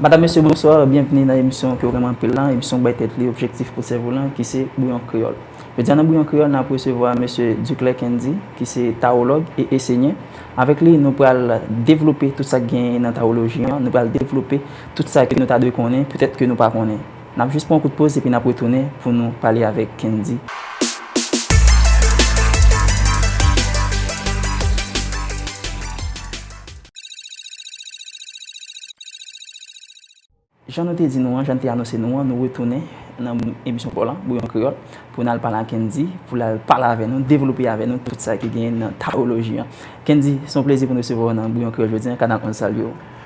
Madam mesye bonswa, byenvni nan emisyon ke w renmen anpil lan, emisyon k bay tèt li objektif pou sèvo lan ki se Bouyon Kreyòl. Jodi a nan Bouyon Kreyòl nap resevwa mesye Duclair Kendy ki se Tawològ e Esenye. Avèk li nou pral devlope tout sa k genyen nan Tawoloji an, nou pral devlope tout sa ke nou ta dwe konnen poutèt ke nou pa konnen. N ap jis pran yon kout poz epi n ap retounen pou nou pale avèk Kendy. Jan nou te di nou an, jan n te anonse nou an, nou retounen nan emisyon paw lan, Bouyon Kreyòl, pou n al pale ak Kendy, pou l al pale avè nou, devlope avè nou tout sa ki genyen nan Tawoloji an. Kendy, se yon plezi pou n resevwa w nan Bouyon Kreyòl jodi an, kanal 11 salye w.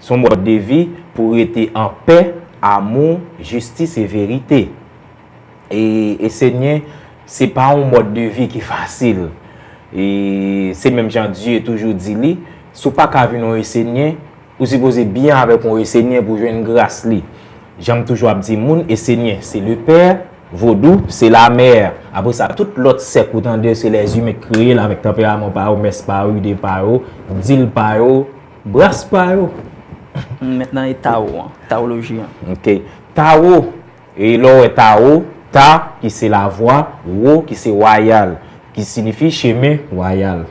S on mòd de vi pou rete an pè, amou, jistis e verite. E e Senyè, se pa yon mòd de vi ki fasil. E se menm jan Dye toujou di li, si w pa ka vin yon e Senyè, ou sipoze byen avèk yon e Senyè pou jwenn gras li. Jan m toujou ap di moun, e Senyè se Lepè, Vodou se Lamè. Apre sa, tout lòt sèk ou tande yo se lèzimen k kreye l avèk tanperaman pa yo, mès pa yo, ide pa yo, dil pa yo. Bras pa yo. M met nan e Tao an. Taoloji an. Ok. Tao, e lè w wè Tao, Ta ki se lavwa, Wo ki se wayal. Ki sinifi chemen wayal.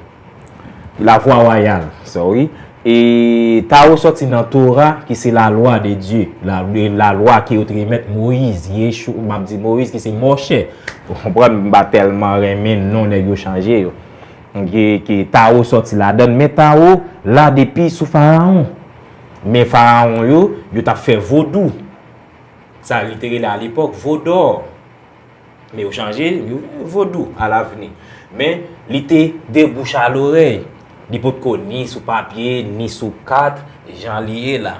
Lavwa wayal. Sorry. E Tao sòti nan Tora ki se lalwa de Dye. Lalwa ke yo te remèt Moyiz. Yeshu, m ap di Moyiz ki se Mòche. Ou konprann m pa tèlman renmen non nèg yo chanje yo. Mge ke Tao sòti ladann men Tao la depi sou faraon men faraon yo yo tap fè vodou sa li te rele a lepòk vodor men yo chanje yo rele vodou a lavni men li te de bouch a lorèy li potko ni sou papye ni sou kat jan li ye la.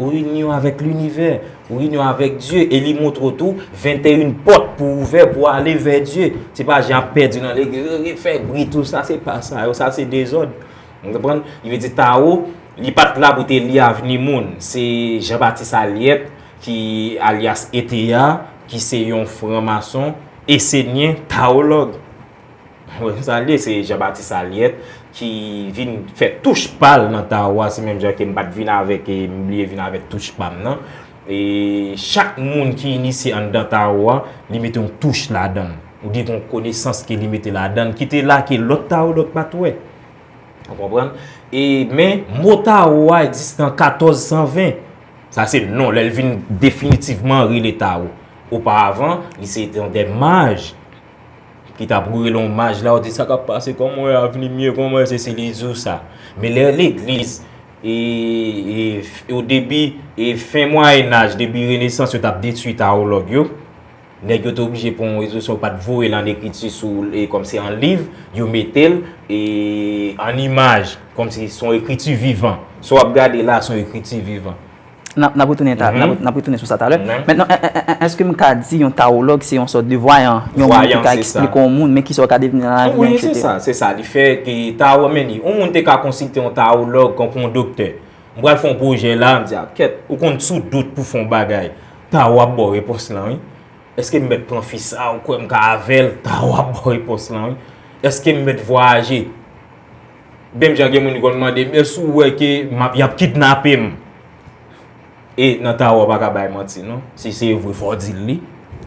Ou inyon avèk linivè, ou inyon avèk Dye, e li montre w tou 21 pòt pou ouvè pou ale vè Dye. Se pa jan ap pèdi nan legliz, yo vin fè bri tout sa, se pa sa yo, sa se dezòd. Ou konprann? Li vle di Tao, li pa t la pou te li avni moun. Se Jean Baptiste Aliette ki alyas ETA, ki se yon fran mason, esenyen, taològ. Mwen te salye se Jean Baptiste Aliet ki vin fè touch pal nan Tao a se menm jan ke m pat vin avèk e m bliye vin avèk touch pa m nan e chak moun ki inisye anndan Tao a li mete yon touch ladan l ou byen gen yon konesans ke li mete ladan l ki te la ke lòt Tao lòt pat wè ou konprann e men mo Tao a egziste an 1420 sa se non lè l vin definitivman rele Tao oparavan li se te yon de maj Ki ta pou rele yon maj la ou di sa kap pase kon mwen avni mye kon mwen se li di w sa. Men lè legliz e o debi e fen mwayenaj debi renesans yo tap detui tawològ yo nèg yo te oblije pran yon rezolisyon yo pat voye l an ekriti sou e kòm se an liv yo mete l e an imaj kòm se son ekriti vivan sa w ap gade la son ekriti vivan. N ap retounen sou sa talè. Mètnan, èske m ka di yon tawològ se yon sòt de vwayan? Yon moun ki ka eksplike yon moun, men ki sa w ka devni nan lavi an, etc. Wi, se sa, se sa li fè. Tawo, meni, yon moun te ka konsilte yon tawològ tankou yon doktè. M pral fè yon pwojè la, m di a, kèt, ou konn sou dout pou fè yon bagay. Tawo ap ba w repons lan, wi. Èske m mèt pran fi sa a, ou kwè m ka avè l? Tawo ap ba w repons lan, wi. Èske m mèt vwayaje? Menm jan gen moun ki konn mande m èske ou wè ke m ap y ap kidnape m? E nan Tao ou pa ka bay manti non. Si se vre fò w di l li.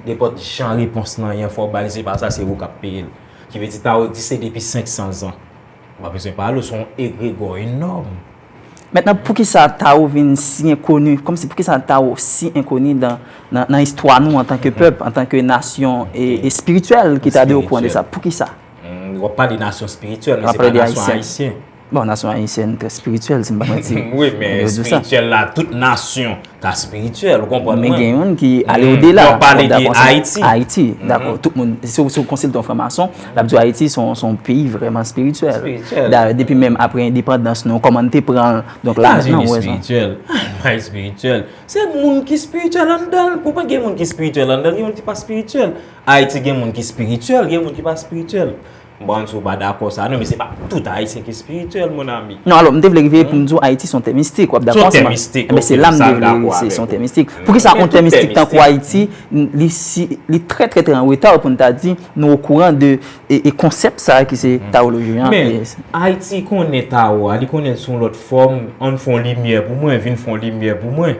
Nenpòt jan repons nan yen fò w ba l se pa sa se ou k ap peye l. Ki vle di Tao egziste depi 500 zan. Ou pa bezwen pale w se yon egregò enòm. Mentnan poukisa Tao vin si enkoni, kòmsi poukisa Tao si enkoni nan istwa nou antanke pèp, antanke nasyon espirityèl ki ta dwe okouran de sa? Poukisa? Ou ap pale nasyon spirityèl, men se pa nasyon ayisyen. Bon, nasyon ayisyen trè spirityèl, si m pa manti. Wi, men spirityèl la, tout nasyon ta spirityèl, ou konprann mwen. Men gen yon ki ale ou de la. Ou pale de Ayiti. Ayiti, dako. Tout moun, si ou konsil ton franmason, l ap di Ayiti son peyi vreman spirityèl. Spirityèl. Dare, depi menm apre endepandans nou, koman n te pran l. Donk la, nan ou wè zan. Spirityèl. Ayiti spirityèl. Se moun ki spirityèl anndan l. Ou konprann gen moun ki spirityèl anndan l, gen moun ki pa spirityèl. Ayiti gen moun ki spirityèl, gen moun ki pa spirityèl. Bon, si w pa dakò sa non, men se pa tout Ayisyen ki spirityèl, mon ami. Non, alò, m te vle rive pou m di w Ayiti se yon tè mistik, w ap dakò avè m? Son tè mistik, ok, sa m dakò avè w. Enben, se la m te vle rive, se yon tè mistik. Pou ki sa yon tè mistik tankou Ayiti, li si, li trè trè trè an reta pou n ta di nou okouran de konsèp sa a ki se tawoloji an? Men, Ayiti konnen tawo a, li konnen l sou yon lòt fòm, an n fè yon limyè pou mwen, vin fè yon limyè pou mwen.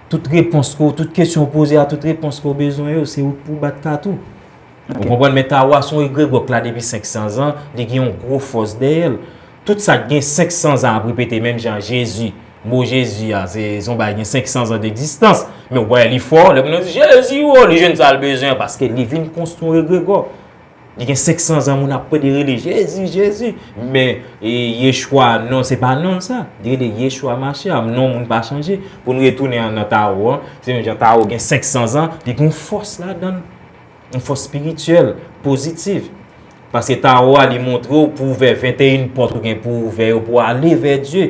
Tout repons ke w, tout kesyon w poze a, tout repons ke w bezwen yo, se ou k pou w bat kat ou. Ou konprann? Men Tawa se yon egregò k la depi 500 zan, li gen yon gwo fòs dèyè l. Tout sa k gen 500 zan ap repete menm jan Jezi. Mo Jezi a, se yon bagay gen 500 zan degzistans. Men ou pa wè li fò, lè moun nan di Jezi o, li jwenn sa l bezwen paske li vin konstwi yon egregò. Li gen 500 zan moun ap pede rele Jezi, Jezi. Men Yeshua non se pa non l sa. Li rele Yeshua Mashiach. Non moun pa chanje. Pou nou retounen nan Tao an. Se menm jan Tao gen 500 zan. Li gen yon fòs ladan l. Yon fòs spirityèl, pozitiv. Paske Tao a li montre w pou ouvè 21 pòt ou gen pou ouvè yo pou ale vè Dye.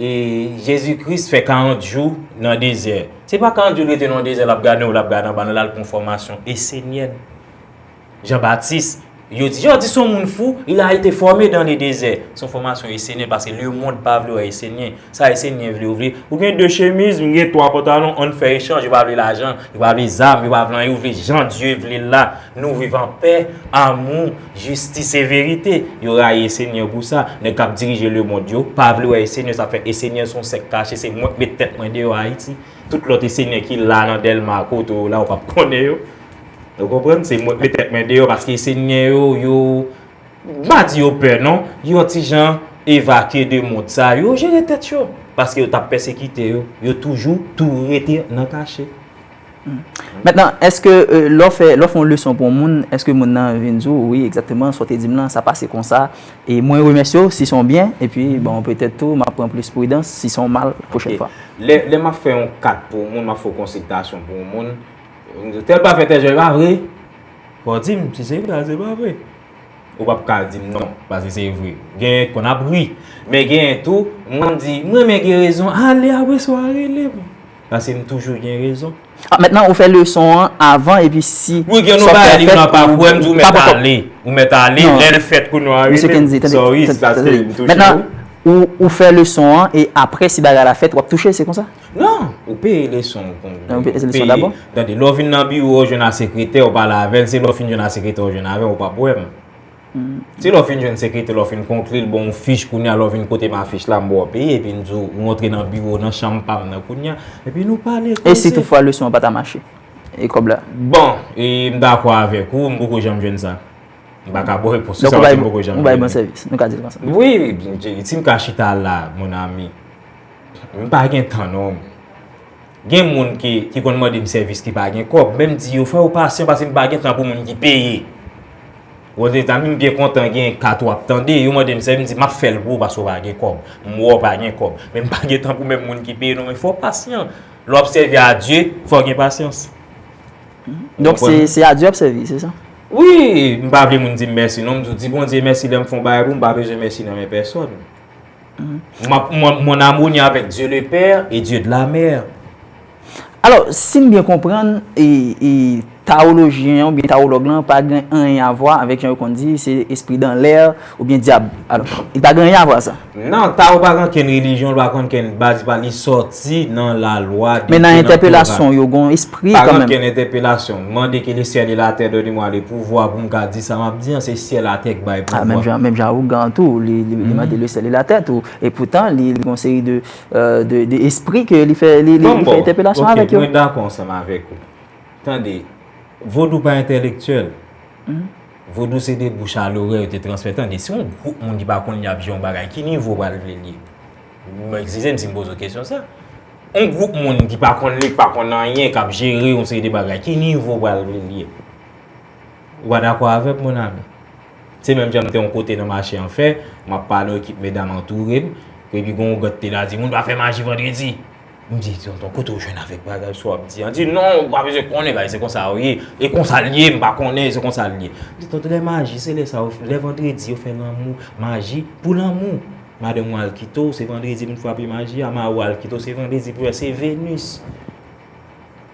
E Jezi Kris fè 40 jou nan dezè. Se pa 40 jou li rete nan dezè l ap gade w, l ap gade anba nou, l al pran fòmasyon. E Senyè n, Jan Batis, yo di, yo di s on moun fou, il a ete fòme dan le dezè. S on fòmasyon e Senyè n, paske lemonn pa vle wè e Senyè n. Sa e Senyè n vle, yo vle, ou gen 2 chemiz, m gen 3 pantalon, an n fè echanj. Yo pa vle lajan, yo pa vle zam, yo pa vle anyen, yo vle jan Dye vle l la. Nou viv an pè, amou. Jistis e verite. Yo rayi esenyè pou sa. Nèg kap dirije le mond yo pa vle wè esenyè sa fè esenyè son sèk kache se mwen k met tèt mwen deyò ayiti. Tout lòt esenyè ki la nan dèlma kote w la ou pap konnen yo. Ou konprann se mwen k met tèt mwen deyò paske esenyè yo yo m pa di yo pè non yon ti jan evakye de mond sa yo jere tèt yo paske yo tap pèsekite yo yo toujou tou rete nan kache. Mètnan, èske lè w fè, lè w fè yon leson pou yon moun, èske moun nan vin di w, wi, egzakteman, sa w te di m lan, sa pase konsa, e mwen remèsye w si se yon byen, epi, bon, petèt tou, m ap pran plis pridans si se yon mal pwochèn fwa? Lè m ap fè yon kat pou yon moun, m ap fè yon konsiltasyon pou yon moun, m di w, tèl pa fè tèl jè, e pa vre? Fò w di m si se vre a, si se pa vre. Ou p ap ka di m non, paske se vre. Genyen ki konn ap ri. Men genyen tou, m konn di, m renmen gerezon, ale apre sa w a rele m. Paske m toujou gen rezon. Ah maintenant ou fè leson an avan epi si Wi gen nou bagay li nan pa kwe m di w met ale ou met ale lè l fèt kounye a rele m sorry se paske m touche w. Maintenant ou fè leson an e aprè si bagay la fèt wap touche l se konsa? Non ou peye leson w pou m peye tande lè w vin nan biwo w jwenn a sekretè w pale avè l se lè w fin jwenn a sekretè w jwenn avè m ou pap wè m. Se lè w fin jwenn sekretè, lè w fin konkli l, ban w fich, kounye a lè w vin kote m afich la, m ba w peye, epi m di w rantre nan biwo w, nan chanm pa m nan kounye a, epi nou pale, koze. E si tout fwa leson an pa ta mache? E kòb la? Bon, e m dakò avèk ou, m poko janm jwenn sa. M pa ka ba w repons sou sa, paske m poko janm jwenn li. Donk ou bay bon sèvis, nou ka di l konsa. Wi, si m ka chita la, mon ami, m pa gen tan non. Gen moun ki ki konn mande m sèvis ki pa gen kòb, men m di yo fò yo pasyan paske m pa gen tan pou moun ki peye. Ozetazni m byen kontan gen kat ou ap tande, yo mande m sèvis m di m ap fè l pou ou paske ou pa gen kòb. M wè ou pa gen kòb, men m pa gen tan pou menm moun ki peye non men fò w pasyan. Lè w ap sèvi a Dye, fò w gen pasyans. Donk se se a Dye w ap sèvi, se sa? Wi, m pa vle moun di m mèsi non, m di w di Bondye mèsi lè m fè yon bagay pou ou, m pa bezwen mèsi nan men pèsòn. Mwen amoni avèk Dye le pè e Dye de la mè. Alò, si m byen konprann, tawolojyen an oubyen tawològ lan pa gen anyen avwa avèk jan yo konn di se espri dan lè oubyen dyab. Alò, li pa gen anyen avwa sa. Nan, tawo pa gen ankenn relijyon, li pa gen ankenn baz, li sòti. Si nan la lwa de Dieu nan Torah. Men nan entèpelasyon w yo gon espri kanmenm. Pa gen okenn entèpelasyon. M mande ke le syèl e la tè done mwa le pouvwa pou m ka di sa m ap di an. Se syèl a tè k bay pouvwa. Menm jan menm jan Awogan tou li mande le syèl e la tè tou. E poutan li gon seri de de espri ke li fè li fè entèpelasyon avèk yo. Bon bon. Ok mwen dakò ansanm avèk ou. Tande. Vodou pa entèlektyèl. Vodou se de bouch a lorè yo te transmèt. Tande se yon gwoup moun ki pa konn li ap di yon bagay. Ki nivo w pral vle l ye? M ekskize m si m poze w kesyon sa. On gwoup moun ki pa konn li, ki pa konn anyen, k ap jere yon seri de bagay, ki nivo pral vle l ye? Ou pa dakò avè m, monami? Se menm jan m te yon kote nan mache an fè, m ap pale, yon ekip medam antoure m, epi gen yon gòt ki te la di, Moun pa fè maji vandredi! M di, Tonton, kote ou jwenn avèk bagay sa w ap di an? Li di, Non, ou pa bezwen konnen, bagay se konsa yo ye. E konsa l ye, m pa konnen, e se konsa l ye. M di, Tonton, lè maji, se lè sa yo, lè vandredi yo fè lanmou, maji pou lanmou. Madanm ou al kite w, se vandredi pou n frape maji a. Mari w al kite w, se vandredi pou l, se Venus.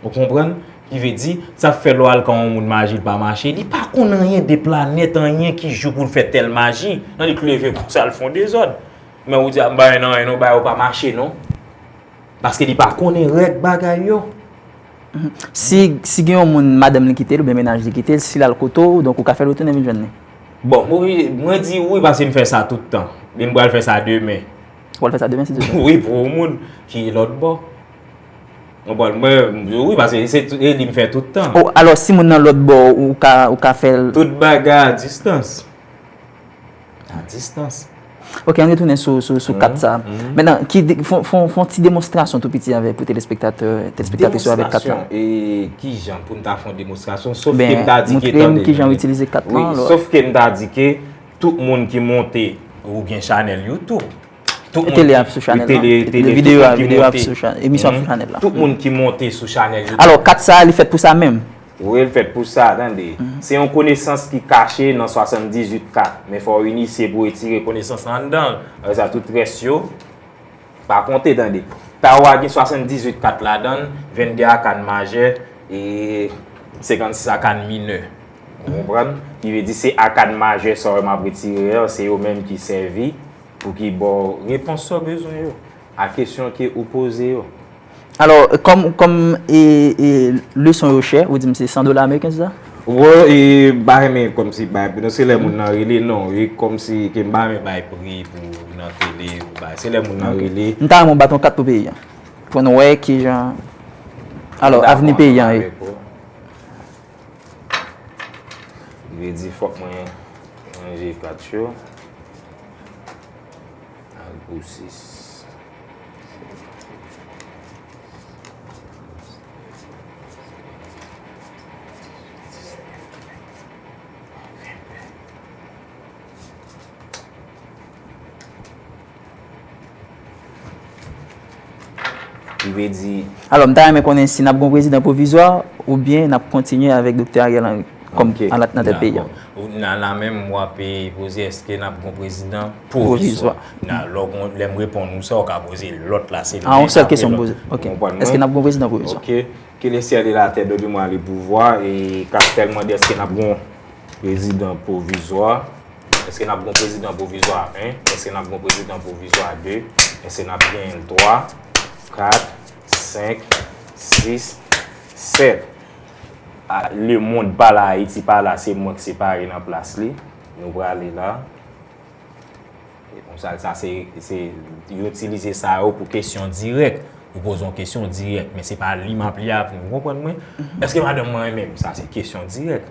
Ou konprann? Ki vle di, sa k fè lè w al kan yon moun maji l pa mache, li pa konn anyen de planèt, anyen ki jou pou l fè tèl maji. Non, li k leve konsa l fè yon dezòd. Men ou di ap bay nan en ou bay ou pa mache non. Paske li pa konnen règ bagay yo. Si gen yon moun madanm li kite l oubyen menaj li kite l, si l al kote w, donk ou ka fè l retounen vin jwenn li? Bon, mwen di wi paske m fè sa tout tan. E m pral fè sa demen. Ou pral fè sa demen si Dye vle? Wi, pou yon moun ki lòt bò. Ou konprann? Mwen di wi paske se li m fè tout tan. O, alò si moun nan lòt bò ou ka fè l? Tout bagay a distans. A distans. Ok, an retounen sou kat sa. Men nan, fon ti demonstrasyon tou piti avèk pou telespektatè, telespektatè sou avèk kat la. Demonstrasyon, e ki jan pou n ta fon demonstrasyon, sof ke m ta di ke tande. Ki jan ou itilize kat la. Sof ke m ta di ke tout moun ki monte ou gen chanèl YouTube. Tout moun ki monte sou chanel la. Alo, kat sa li fèt pou sa menm? Wi, li fèt pou sa, tande. Se yon konesans ki kache nan 78 kat. Men fò yon inisye pou etire konesans nan anndan. Awe sa, tout rès yo, pa konte, tande. Taro a gen 78 kat la dan, 22 a kan majè, e 56 a kan minè. Ou konprann? Ki ve di se a kan majè sa wè m ap etire yo, se yo menm ki sèvi. Pou ki ba w repons sa w bezwen yo, a kesyon ke ou poze yo. Alò, kòm, kòm e, e leson yo chè, ou di m se 100 dola ameriken se sa? Wè, e m pa renmen kòmsi bay pri non, se lè moun nan rele non, e kòmsi ke m pa renmen bay pri pou nan tele, pou bay, se lè moun nan rele. M ta renmen w bat yon kat pou peyi an, pou n wè kijan, alò, avni peyi an ye. Li vle di fòk mwen ranje plat yo. Al pou 6. Prive di. Alò, m ta renmen konnen si n ap gen yon prezidan pwovizwa oubyen n ap kontinye avèk Doktè Ariel Henry kòm alat nan tèt peyi a. Nan la menm w ape poze èske n ap gen yon prezidan pwovizwa. Alò, lè m reponn ou sa, ou ka poze lòt la. A, yon sèl kesyon m poze. Ok. Èske n ap gen yon prezidan pwovizwa? Ok. Ke le syèl e latè done mwa le pouvwa e ka sèlman di èske n ap gen yon prezidan pwovizwa. Eske nap gon prezidan pwovizwa 1? Eske nap gon prezidan pwovizwa 2? Eske nap genyenl 3, 4, 5, 6, 7? A, le mond pa la, Ayiti pa la, se mwen ki separe nan plas li. Nou prale la. E konsa, sa se, se, yo itilize sa yo pou kesyon dirèk. Ou poze yon kesyon dirèk. Men se pa li map li avni. Ou konprann mwen? Eske madanm mwen renmenm? Sa se kesyon dirèk.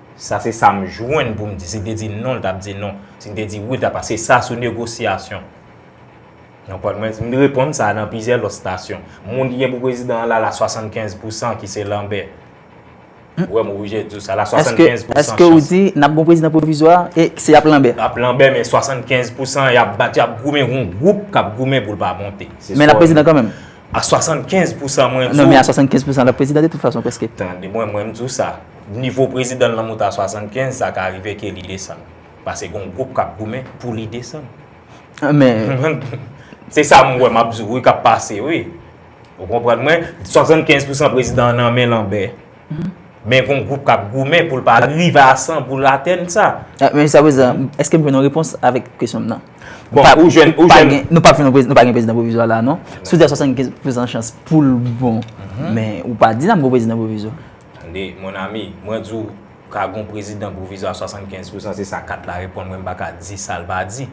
Sa se sa m jwenn pou m di. Si n te di non, l t ap di non. Si n te di wi, l t ap pase sa sou negosyasyon. Nan pòt mwen, m reponn sa nan plizyè lòt stasyon. Moun ki gen pou prezidan an la la 75 pou san ki se Lanbè. Ou wè m oblije di w sa la 75 pou san chans. Eske ou di n ap gen yon prezidan pwovizwa e se ap Lanbè? Ap Lanbè men 75 pou san y ap bat, y ap goumen, gen yon gwoup k ap goumen pou l pa monte. Men l ap prezidan kanmenm? A 75 pousan mwen di w. Non men a 75 pousan lap prezidan de tout fason preske. Tande mwen, mwen m di w sa. Nivo prezidan lan moute a 75, sa ka rive ke li desann. Pase gon gwoup kap goumen pou li desann. Men. Se sa m wè map di w wi kap pase wi. Ou konprann mwen? 75 pousan prezidan an nan men lanbè. Men gon gwoup kap goumen pou l pa rive a 100 pou l atenn sa. Men jiska prezan, eske m jwenn yon repons avèk kesyon m nan? Bon, ou jwenn, ou jwenn. Nou pa fini, nou pa gen prezidan pwovizwa la non. Si w di a 75 pousan chans pou l bon, men ou pa di nan m gen yon prezidan pwovizwa. Tande, mon ami, mwen di w ka gen yon prezidan pwovizwa a 75 pousan, se sa kat la reponn mwen, m pa ka di sa l pa di.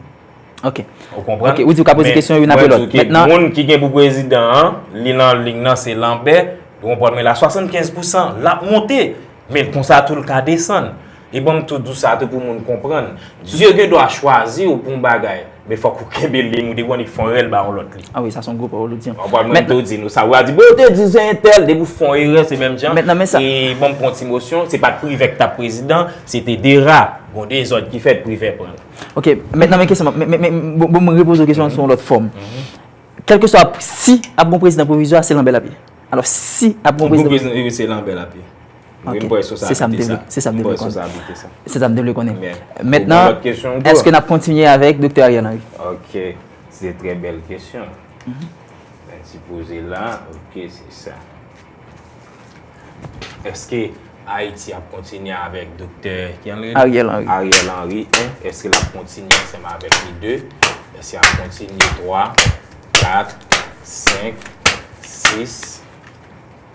Ok. Ou konprann? Ok, ou di w ka poze kesyon youn apre lòt. Mètnan. Mwen di w ke moun ki gen pou prezidan an, li nan ling nan se Lanbè, ou konprann mwen la, 75 pousan, l ap monte, men konsa tou l ka desann. Li banm tout dous sa tou pou moun konprann. Dye gen dwa chwazi w pou yon bagay, men fòk ou kenbe liy ou te konn epi fon erè l ba yon lòt li. Ah wi sa son gwo pawòl ou di. Wap wè mwen tou di nou sa, ou a di bon yo te di se entèl, depi w fon erè se menm jan. E banm pran yon ti mosyon, se pat Privè ki tap prezidan, se te Dera. Bon dezòd ki fèt Privè pran l. Ok, mentnan men kesyon map, men bon m repoze w kesyon an sou yon lòt fòm. Kèlkeswa si ap gon prezidan pwovizwa se lanbè lap ye. Alò si ap gon prezidan. Pou prezidan se lanbè lap ye. Wi m kwè sou sa abite sa. Se sa m te vle konnen. Se sa m te vle konnen. Mètnan, eske nap kontinye avèk Doktè Ariel Henry? Ok. Se trè bèl kesyon. Mwen ti poze la. Ok, se sa. Eske Ayiti ap kontinye avèk Doktè Henry? Ariel Henry. Ariel Henry, 1. Eske lap kontinye ansèm avèk li, 2. Eske ap kontinye, 3. 4, 5, 6.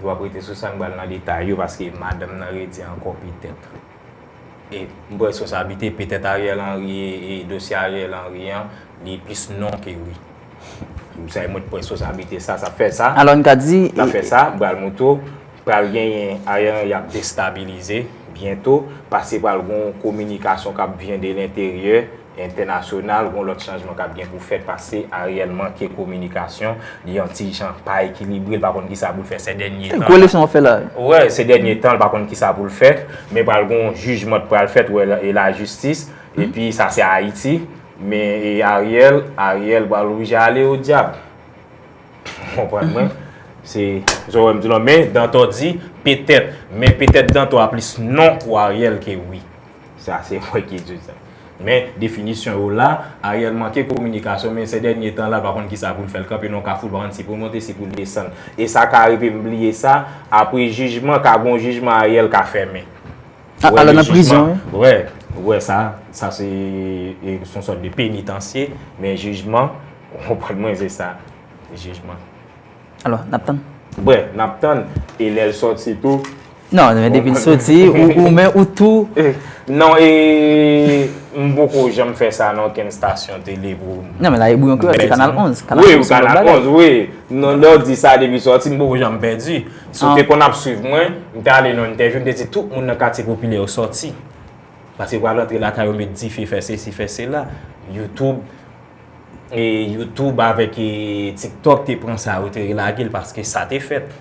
Vwa prete sou sa n bal nan detay yo paske madanm nan redi anko petèt. E m pran responsabilite petèt Ariel Henry e dosye Ariel Henry an li plis non ke wi. Ou sa e mwen t pran esposablite sa, sa fè sa. Alò n ka di. Sa fè sa, bal moto. Pral genyen ayan y ap destabilize byento. Pase pral gon kominikasyon k ap vyen de lenteryè, entènasyonal. Gon lòt chanjman k ap gen pou fèt pase Ariel manke kominikasyon. Li yon ti jan pa ekilibre, l pa konn ki sa pou l fè sè dènye tan. Gwo leson w ap fè la. Wè, sè dènye tan l pa konn ki sa pou l fè. Men pral gon jijman t pral fèt wè e lajistis. E pi sa se Ayiti. Men e Ariel, Ariel pral oblije ale o dyab. Ou konprann mwen? Se sa w wè m di la w. Men Dantò di petèt. Men petèt Dantò a plis non pou Ariel ke wi. Sa se mwen ki di sa. Men definisyon yo la, Ariel manke kominikasyon men sè dènye tan la l pa konn kisa pou l fè. L kanpe nan yon kafou l pa konn si pou l monte si pou l desann. E sa ka rive m bliye sa, apre jijman ka gen yon jijman Ariel ka fèmen. Wè le jijman, wè, wè sa, sa se son sòt de penitansye, men jijman, wè pwèd mwen ze sa, jijman. Alò, nap tann. Wè, nap tann, e lè l sòt si tou. Non, men depi l sòt si, ou men ou tou. Non, e, m poko janm fè sa nan okenn stasyon tele pou. Non, men la e bouyon kreyòl, se kanal 11. Kanal 11, wè, kanal 11, wè. Non, lè w di sa depi l sòt si, m poko janm pèdi. Si w te konn ap swiv mwen, m te ale nan yon entèvyou, m te di tout moun nan katye popilè yo sòti. Paske yo pral antre lakay yo met dife, fè sesi, fè sela. Youtube, e Youtube avèk e TikTok te pran sa, yo te relage l paske sa te fèt.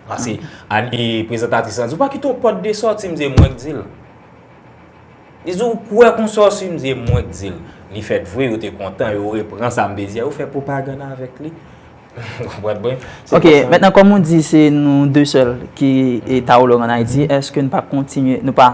Paske ane prezantatris lan di, ou pa kite yon pòt de sòti, m di e mwen k di l. Li di ou kwè kon sa w si, m di e mwen k di l. Li fèt vre, yo te kontan, yo repran sa m te di a, yo fè pwopagann avèk li. Ok, mentnan kom ou di se nou 2 sel ki Taolo an Ayiti, eske nou pa kontinye, nou pa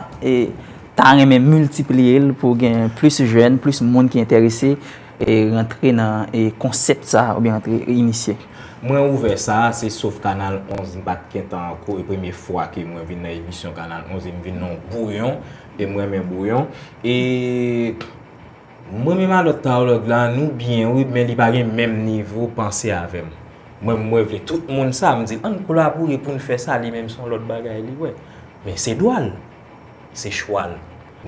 ta renmen miltipliye l pou gen plis jen, plis moun ki enterese e rantre nan konsept sa ou byen rantre inisye? Mwen ouvè sa, se sof kanal 11 m pat gentan anko e premye fwa ke mwen vin nan emisyon kanal 11 e m vin nan yon bouyon e m renmen bouyon e. M renmen malòt Tarlord la nou byen wi men li pa gen menm nivo panse avèm mwen mwen vle tout moun sa m dil ann kolabore poun fè sa li menm son lòt bagay li wè men se dwal se chwal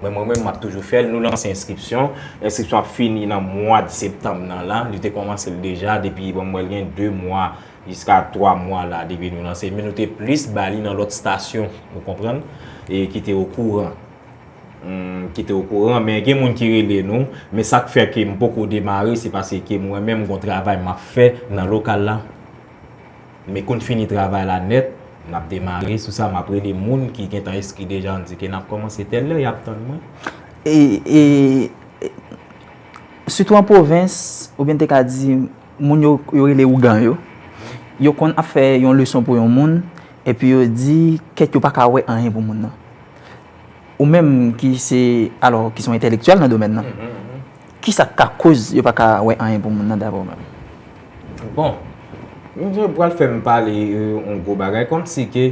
men mwen menm map toujou fèl nou lanse enskripsyon enskripsyon ap fini nan mwad septanm nan la li te kòmansel deja depi bon mwen gen 2 mwa jiska 3 mwa la depi nou lanse men nou te plis bali nan lòt stasyon nou konprann e kite okouran. M kite w kouran men gen moun ki rele nou men sak fè ke m poko demare se paske mwen menm gon travay map fè nan lokal la men konn fini travay la nèt nap demare sou sa map rele moun ki gentan enskri deja nou di ke nap kòmanse tèl lè yap tann mwen. E sitou an pwovens oubyen m te ka di moun yo yo rele ougan yo yo konn ap fè yon leson pou yon moun epi yo di kèt yo paka wè anyen pou moun nan. Ou menm ki se alò ki son entèlektyèl nan domèn nan, ki sa k ka koz yo pa ka wè anyen pou moun nan dapre ou menm? Bon, misye pral fè m pale yon gwo bagay kòm si ke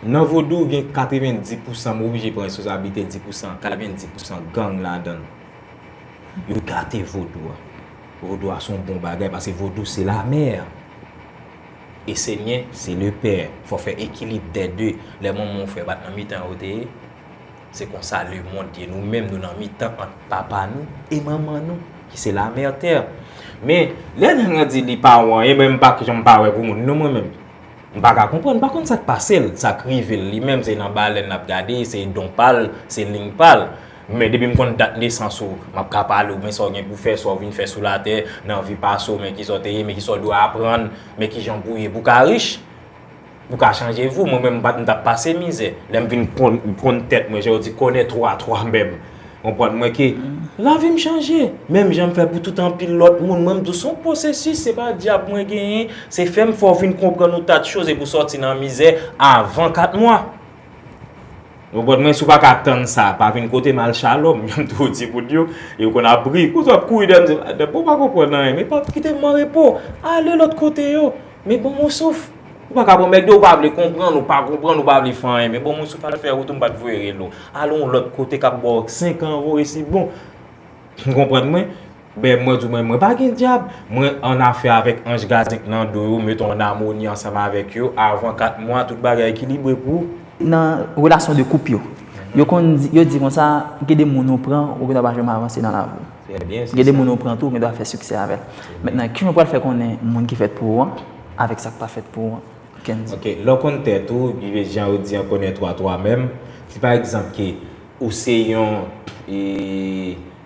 nan vodou gen 90 pousan, m oblije pran responsablite di pousan, 90 pousan gang ladan. Yo gate vodou a. Vodou a son bon bagay paske vodou se lamè. e senyè se le pè fò fè ekilib dè de lè manmanw fè bat nan mitan yo te ye se konsa le mond ye nou menm nou nan mitan ant papa nou e manman nou ki se la mère terre men lè nèg lan di li pa wè anyen men mpa k janm pa wè pou moun non mwen menm mpa ka konprann mpa konn sak pasel sak rivel li menm se nan balèn lap gade se don pal se ling pal. Men depi m konn dat nesans ou, m ap ka pale ou, men sa w gen pou fè, sa w vin fè sou latè, nan vi pase w, men kisa w te ye, men kisa w dwe aprann, men ki jan pou w ye pou w ka rich, pou w ka chanje vi w. Mwen menm, m t ap pase mizè. Lè m vin konn tèt mwen, jan yo di kònen twò a twò menm, konprann mwen ke lavi m chanje. Menm jan m fè pou tout anpil lòt moun, mwen m di w se yon pwosesis, se pa dyab mwen genyen, se fè m fè w vin konprann yon tas de choz e pou w sòti nan mizè avan 4 mwa. Oh God mwen si w pa ka tann sa pa vin kote m al shalom janm toujou di moun yo e yo konn ap ri pou sa w ap kouri dèyè m di m depi w pa konprann anyen men pa kite m an repo ale lòt kote yo men ban m yon souf ou pa ka pran mèg de ou pa vle konprann ou pa konprann ou pa vle fè anyen men ban m yon souf al fè wout ou m pa t voye rele w ale yon lòt kote k ap ba w 5 an vore si bon ou konprann mwen. Ben mwen di w men mwen pa gen dyab, mwen an afè avèk anj gadyen klando yo, meton an amoni ansanm avèk yo, avan 4 mwa tout bagay ekilibre pou w. Nan relasyon 2 koup yo, yo konn di, yo di konsa, gen de moun ou pran, ou gendwa pa janm avanse nan lavi w. Trè byen, se sa. Gen de moun ou pran tou, ou gendwa fè siksè avè l. Mentnan, kijan w pral fè konnen moun ki fèt pou ou an, avèk sa k pa fèt pou ou an? Kendy. Ok, lè w konn tèt ou, epi jan yo di an konnen twa twa menm, si pa egzanp ke ou se yon e.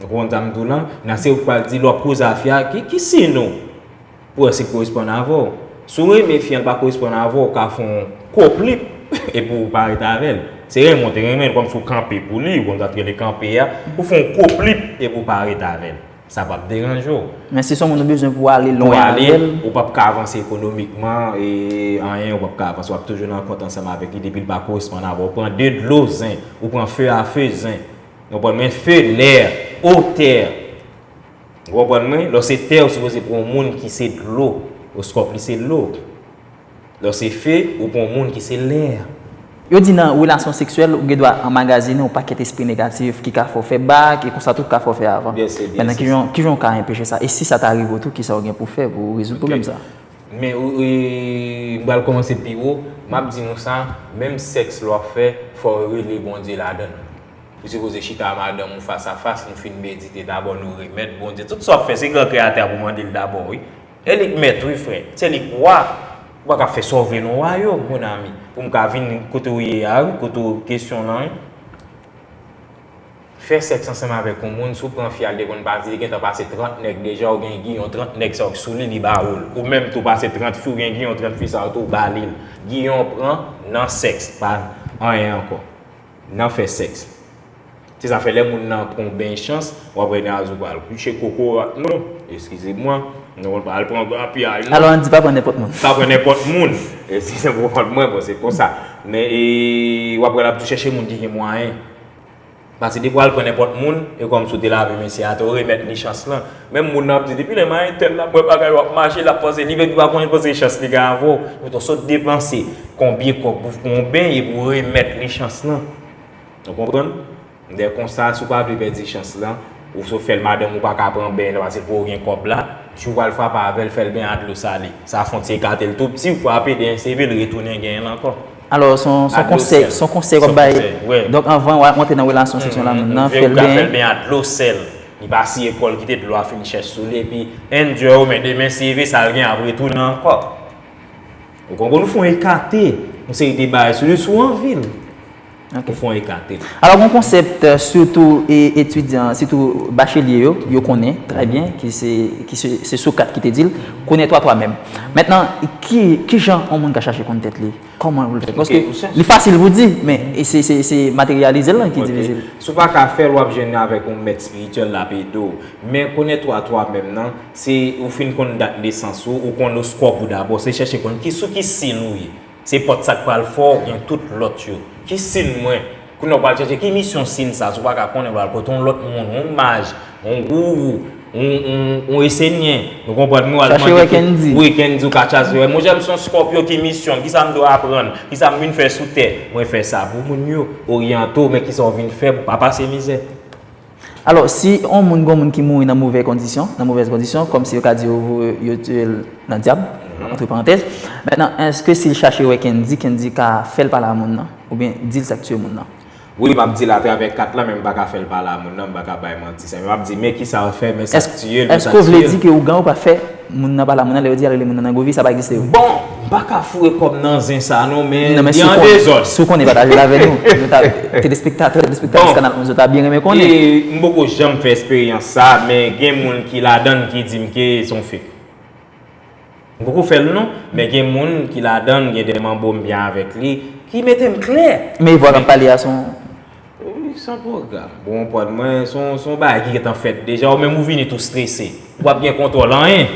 Nou konn sa m di w lan, nan se ou k pral di lè w poze afè a ki ki siy nou pou wè si l koresponn avè w. Si w renmen fi an l pa koresponn avè w, ou ka fè yon koplip epi w pa ret avè l. Se renmen w te renmen l kòmsi w kanpe pou li, ou konn sa t rele kanpe a, ou fè yon koplip epi w pa ret avè l. Sa p ap deranje w. Men si s on moun ou bezwen pou w ale lwen avè l. Pou w ale, ou p ap ka avanse ekonomikman e anyen ou p ap ka avanse. W ap toujou nan kont ansanm avèk li depi l pa koresponn avè w. Ou pran de dlo zen, ou pran fe a fe zen. Nou konprann men feu l'air, eau terre. Ou konprann mwen? Lò se tè ou sipoze pran yon moun ki se dlo, oskòp li se lo. Lò se feu, ou pran yon moun ki se l'air. Yo di nan relasyon seksyèl ou gen dwa anmagazinen yon pakèt espri negatif ki ka fè w fè bak e konsa tou ki ka fè w fè avan. Byen se, byen se sa. Ki jan w ka enpeche sa? E si sa ta rive w tou, ki sa w gen pou w fè pou w rezoud pwoblèm sa? Men ou, m pral kòmanse pi wo, m ap di nou sa, menm sèks lè w ap fè, fò w rele Bondye ladan l. Ou sipoze chita a madanm ou fas a fas, nou fin medite dabò nou remèt Bondye tout sa wap fè se gran kreyatè a pou mande l dabò wi. E li k mèt wi frè, se li k wa, ou pa ka fè sa w vle non wa yo mon ami pou m ka vin kote w ye a wi kote w kesyon lan wi. Fè sèks ansanm avèk yon moun si w pran fi a l te konn pase li gentan pase 30 nèg deja ou gen giyon 30 nèg sa yo k sou li li ba ou l, ou menm tou pase 30 fi w gen giyon 30 fi sa yo tou ou ba li l, giyon w pran nan sèks pa anyen ankò. Nan fè sèks. Se sa fè lè moun nan pran yon beny chans, w ap wè Nazou pral kouche kokorat nou, eskize mwa, nou pral pran grapyay nou. Alò Andy pa pran nenpòt moun. Pa pran nenpòt moun. Si se pou kont mwen, bon se konsa. Men e, w ap wè l ap tou chèche moun ki gen mwayen. Pase depi w al pran nenpòt moun, e kòmsi w te lave mesye a, te w remèt li chans lan. Menm moun nan ap di depi lè mayi tel la ap wè bagay yo ap mache lap panse li vèk li pa konn panse chans li gen avèw ou to sot depanse konbyen kob pou fon yon beny epi ou remèt li chans lan ou konprann lè konsa si ou pa vle pèdi chans lan ou sot fèl madanm ou paka pran beny lan pase pouw gen kob la jou ou pral frape avèl fèl beny a dlo sale sa fon ti ekatel tou pti ou frape dèyè seve li retounen genyenl ankò. Alò son konsèy son konsèy wap bay donk anvan ou antre nan relasyon seksyon la moun nan fèl beny a dlo sèl. Li pa siye kòl kite dlo a fin chèch sou li epi endure ou men demen si vi sal gen ap retounen ankò. Ou konprann ou fon ekate yon seri de bagay sou li si w anvi l. Ou fon ekate l. Alò gon konsèpt sitou etidyan sitou bachelye yo, yo konnen trè byen ki se ki se se Socrate ki te di l, konnen twa twa menm. Mentnan ki kijan yon moun ka chache konn tèt li? Kòman pou l fè? Paske li fasil pou di, men se materyalize l lan ki difisil. Si w pa ka fè l, w ap jwenn avèk yon mèt espirityèl l ap ede w. Men konèt ou a twa menm nan, se ou fin konn dat nesans ou, ou konn oskòp ou dabò, se chèche konn sou ki siy ou ye. Se pòt sa k pral fè w gen tout lòt yo. Ki siy mwen? Kounya ou pral chèche ki misyon sin sa si w pa ka konnen ou pral kote yon lòt moun, yon maj, yon gourou, yon esenyen, ou konprann m, ou al mande ki, wi kendy ou ka chache wè, monchè m se yon scorpio ki misyon m, kisa m dwe aprann, kisa m vin fè sou tè, mwen fè sa pou moun yo, oryante w men kisa w vin fè pou w pa pase mizè. Alò, si yon moun gon moun ki mouri nan movè kondisyon, nan movèz kondisyon, kòm si yo ka di yo voye, yo tiye l nan dyab, antre parantèz, mètnan, èske si l chache wè Kendy, Kendy ka fè l pale a moun nan? Oubyen di l sa k tiye moun nan? Wi, m ap di l atravè kat la, men m pa ka fè l pale a moun nan, m pa ka bay manti sa. Men m ap di, men kisa l fè, men sa k tiye l, men sa tiye l. Èske w vle di ke ougan ou pa fè? Moun nan pa la moun nan lè yo di yal rele moun nan nan govi sa pa egziste yo. Bon m paka foure kòm nan zen sa non men li an dezòd. Si w konnen pataje l avè nou. Nou ta telespektatè, telespektatris kanal 11 yo ta byen renmen konnen. E m poko janm fè esperyans sa men gen moun ki ladan l ki di m ke se yon fake. M poko fè l non men gen moun ki ladan l gen de manbo m byen avèk li ki mete m klè. Men vwa kap pale a son. Wi, san pwogram. Bon anpwa mwen, se yon bagay ki gentan fèt deja, ou menm ou vini tou strese. Ou pap gen kontwòl anyen.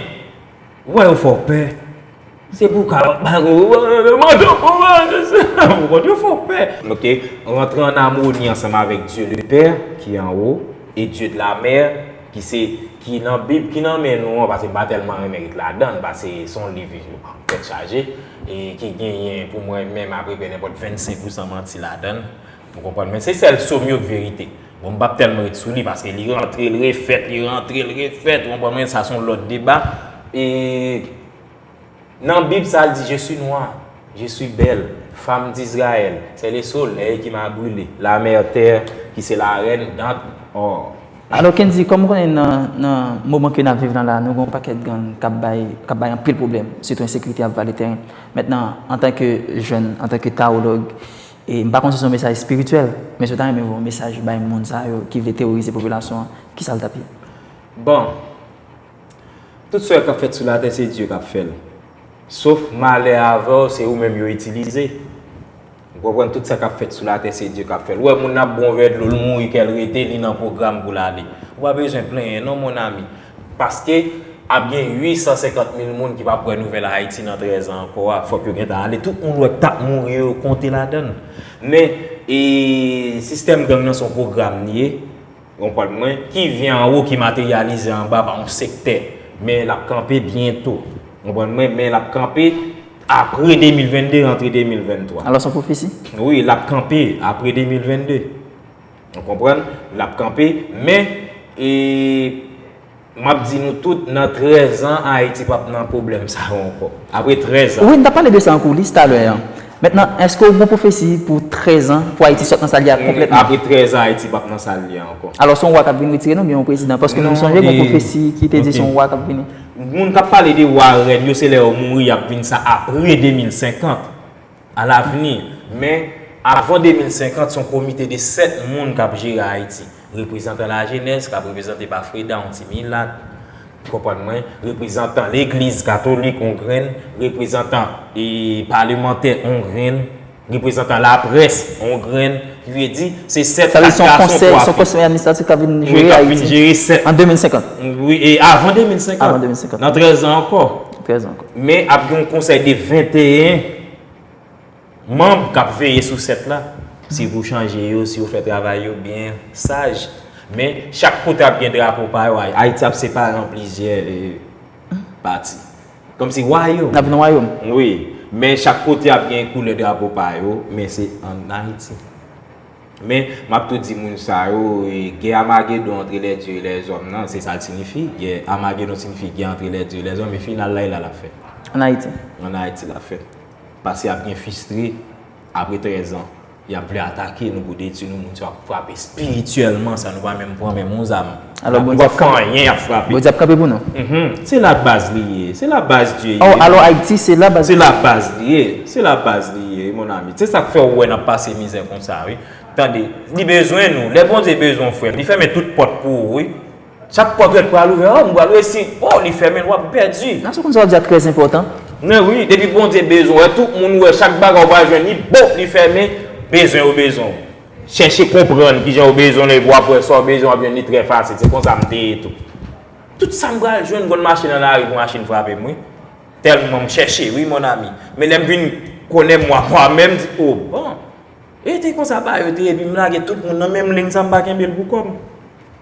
Ou wè yo fè w pè. Se pou w ka bay yon manda pou w al nan syèl la. Ou konprann? Yo fè w pè. Ok, rantre an amoni ansanm avèk Dye le Pè ki anwo e Dye de la Mè ki se, ki nan Bib ki nan men nou an, pase m pa tèlman renmen ret ladan l, pase se yon liv tèt chaje e ki genyen pou mwen menm apreprè nenpòt 25 pousan manti ladan l. Ou konprann men se sèl som yo k verite. Bon m pap tèlman ret sou li paske li rantre l refèt, li rantre l refèt ou konprann men sa son lòt deba. E nan bib sa l di je si nwa, je si bèl, fam dizrayèl, sè le solèy ki ma brile, la mè tè ki se la rèn dant ò. Alò Kendy kòm ou konnen nan moman ke nap viv lan la nou gen yon pakèt gang kap bay kap bay anpil pwoblèm sitou ensekirite ap vale tèren mètnan antanke jèn antanke tawològ E m pa konn si se yon mesaj espirityèl, men si yo ta renmen voye yon mesaj bay moun sa yo ki vle teworize popilasyon an, ki sa l t ap ye? Bon, tout sa yo k ap fèt sou latè se Dye k ap fè l. Sof malè avè w se ou menm yo itilize. Ou konprann tout sa k ap fèt sou latè se Dye k ap fè l. Ou wè moun nan ap bwè yon vè dlo l mouri kè l rete li nan pwogram pou l ale. Ou pa bezwen plenyen non mon ami. Paske ap gen 850 mil moun ki pap wè nouvèl Ayiti nan 13 an ankò a, fòk yo gentan ale. Tout moun wè k tap mouri yo, yo konte ladan l. Men, e, sistèm gang nan se yon pwogram li ye, ou konprann mwen, ki vyen anwo ki materyalize anba pa yon sektè. Men l ap kanpe byento. Ou konprann mwen? Men l ap kanpe apre 2022, rantre 2023. Alò s on pwofesi? Wi, l ap kanpe apre 2022. Nou konprann, l ap kanpe. Men, e, m ap di nou tout, nan trèz an, Ayiti p ap nan pwoblèm sa yo ankò. Apre trèz an. Wi, n t ap pale de sa an koulis talè an. Mentnan, èske ou gen yon pwofesi pou trèz an, pou Ayiti sot nan sa l ye a konplètman? Apre trèz an, Ayiti p ap nan sa l ye a ankò. Alò, se yon wa k ap vini retire nou oubyen yon prezidan? Paske nou sonje gen yon pwofesi ki te di se yon wa k ap vini. Moun k ap pale de wa rèn yo, se lè yo mouri y ap vin sa apre 2050. A lavni, men, avan 2050, son komite de 7 moun kap jere Ayiti. Reprezantan lajenès kap reprezante pa Freda, yon ti milat, konprann mwen, reprezantan legliz katolik, yon grenn, reprezantan e palemantè, yon grenn, reprezantan laprès, yon grenn, ki vle di, se 7, 4 gason, 3 fi. Sa vle di son konsèy, son konsèy administratif kap vin jere Ayiti. Wi, kap vin jere 7. An 2050. Wi, e avan 2050. Avan 2050. Nan 13 an ankò. Men ap gen yon konsèy de 21 manb k ap veye sou 7 la. Si pou chanje yo, si yo fè travay yo byen, saj. Men, chak kote ap gen drapo pa yo. Ayiti ap separe an plizyè pati. Kòm si wayom. N ap vin wayom. Wi. Men chak kote ap gen koulè drapo pa yo, men se an Ayiti. Men, m ap tou di moun sa yo, gè Amagedon antre lèdye e lèzòm nan, se sa l sinifi. Gè Amagedon sinifi gè antre lèdye e lèzòm, e final la e la l ap fèt. Ann Ayiti? Ann Ayiti l ap fèt. Pase ap gen fistre, apre trèzan, y ap vle atake nou pou detui nou, moun sa yo ap frape espirityèlman san nou pa menm pran menm yon zam. Alò Bondye ap kanpe pou nou. Bondye ap kanpe pou nou. Se la baz li ye. Se la baz Dye ye. Oh alò Ayiti se la baz. Se la baz li ye. Se la baz li ye wi mon ami. Se sak fè ou wè nap pase mizè konsa wi. Tande. Li bezwen nou. Lè Bondye bezwen ou frèm. Li fèmen tout pòt pou ou wi. Chak pòt ou wè ki pral ouvè. Oh m pral resi. Oh li fèmen l wap pèdi. Nan se konsa ou di a trè enpòtan. Men wi. Depi Bondye bezwen ou. Tout moun ou wè. Chak bagay ou pral jwenn li. Bop li fèmen. Bezwen yo bezwen ou. Chèche konprann ki jan ou bezwen l epi w ap wè sa w bezwen w ap jwenn li trè fasil. Se konsa m te ye tou. Tout sa m pral jwenn m konn mache nan lari pou machin frape m wi. Tèlman m chèche wi mon ami. Men lè m vin konnen mwa mwa menm m di o bon. E te konsa bagay yo te ye epi m lage tout moun nan menm ling sa m pa kenbe l pou kò m.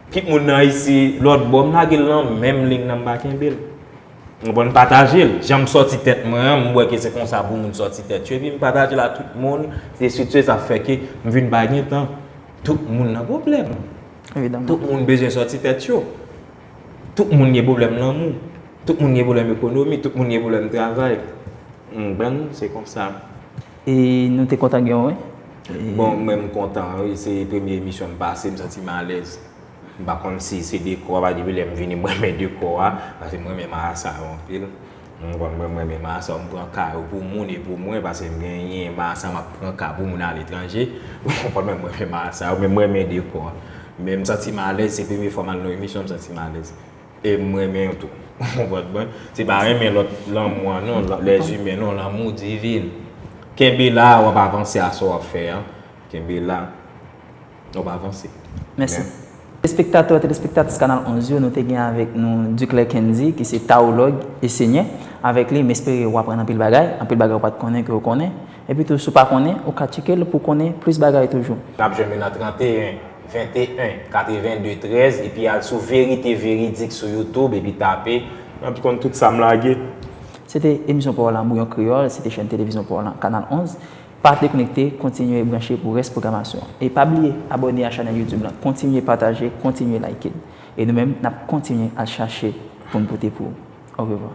Tout moun nan isi lòt bò m lage l nan menm ling nan m pa kenbe l. Ou konprann pataje l. Janm sòti tèt mwen an, m wè ke se konsa pou moun sòti tèt yo epi m pataje l a tout moun. Se sitou sa fè ke m vin pa gen tan. Tout moun nan pwoblèm. Evidaman. Tout moun bezwen sòti tèt yo. Tout moun gen pwoblèm lanmou. Tout moun gen pwoblèm ekonomi. Tout moun gen pwoblèm travay. Ou konprann? Se konsa. E nou te kontan gen w wi. Bon, mwen m kontan wi. Se premye emisyon m pase, m santi m alèz. M pa konn si se dekò a pa depi lè m vini m renmen dekò a paske m renmen marasa yo anpil m konn mwen m renmen marasa yo m pran ka yo pou moun e pou mwen paske m genyen marasa m ap pran ka pou moun aletranje ou konprann mwen m renmen marasa yo men m renmen dekò a men m santi m alèz se premye fwa m al nan yon emisyon m santi m alèz e m renmen yo tou ou konprann mwen se pa renmen lòt lanmou an non lèzimè non lanmou divin kenbe la w ap avanse a sa w ap fè an kenbe la. Ou pa vanse. Mèsi. Espektatè, telespektatris Kanal 11 yo, nou te gen avèk nou Duclair Kendy ki se Tawològ e Senyè. Avèk li, m espere ou aprann anpil bagay, anpil bagay ou pa t konnen ke ou konnen. Epi tou, si ou pa konnen, ou ka tcheke l pou w konnen plis bagay toujou. N ap jwenn yo nan 31 21 82 13 epi al sou Verite Veridik sou YouTube epi tape. N ap konn tout sa m lage. Se te emisyon Pawòl Lanmou, yon kreyòl, se te chèn televizyon Pawòl lan, Kanal 11. Pa deknekte, kontinye branche pou rès pwogramasyon. E pa bliye abòne a chanèl YouTube lan, kontinye pataje, kontinye like l. E nou menm, n ap kontinye al chache pou n pote pou ou. Orevwa.